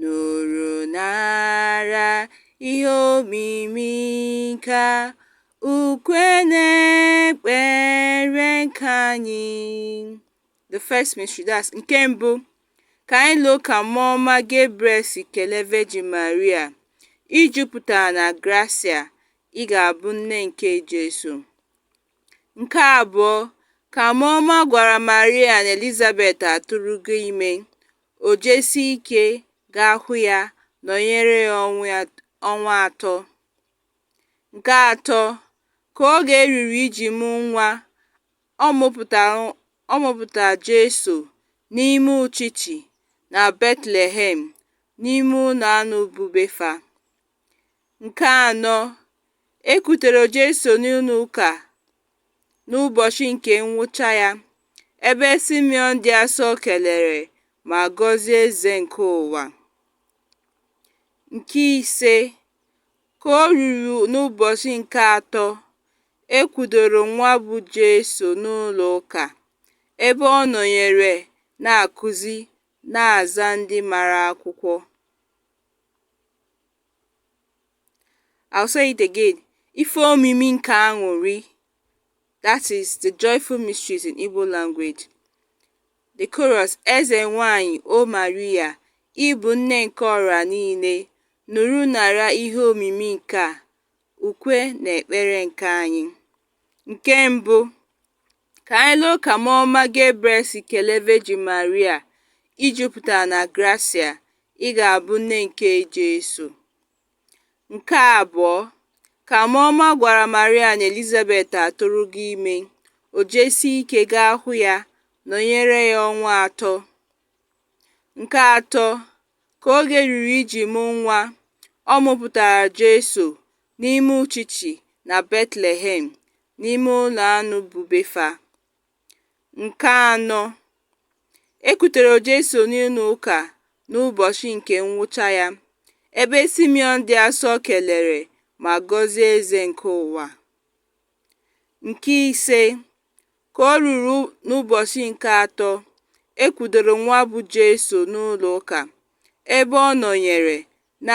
Nụrụ nara ihe omimi nke a ukwe na ekpere nke anyị the first mystery that's nke mbụ ka anyị loo ka mmụọ ọma Gabriel si kelee Virgin Maria i jupụta na grasia ị ga-abụ nne nke Jesu nke abụọ ka mmụọ ọma gwara Maria na Elizabeth atụrụgo ime o jesi ike gaa hụ ya nọnyere ya ọnwa atọ. Nke atọ, ka oge ruru iji mụ nwa, ọ mụpụtara Jesu n'ime uchichi na Betlehem n'ime ụlọ anụ bụ be fa. Nke anọ, e kutere Jesu n'ụlọ ụka n'ụbọchị nke nwụcha ya, ebe Simeon dị asọ kelere ma gọzie eze nke ụwa. Nke ise, ka o ruru n'ụbọchị nke atọ, e kwudoro nwa bụ Jesu n'ụlọ ụka, ebe ọ nọnyere na-akụzi na-aza ndị mara akwụkwọ. I'll say it again. Ife omimi nke aṅụrị. That is the joyful mysteries in Igbo language. The chorus Eze nwanyị O Maria, ị bụ nne nke ọra niile, nụrụ nara ihe omimi nke a, ukwe na ekpere nke anyị. Nke mbụ Ka anyị loo ka mmụọ ọma Gabriel si kelee Virgin Maria, I jupụtara na grasia, ị ga-abụ nne nke Jesu. Nke abụọ, ka mmụọ ọma gwara Maria na Elizabeth atụrụgo ime, o jesie ike gaa hụ ya, nọnyere ya ọnwa atọ. Nke atọ, ka oge ruru iji mụ nwa, ọ mụpụtara Jesu n'ime uchichi na Betlehem. n'ime ụlọ anụ bụ be fa nke anọ e kutere Jesu n'ụlọ ụka n'ụbọchị nke nwụcha ya ebe Simeon dị asọ kelere ma gọzie eze nke ụwa nke ise ka o ruru n'ụbọchị nke atọ e kwudoro nwa bụ Jesu n'ụlọ ụka ebe ọ nọnyere na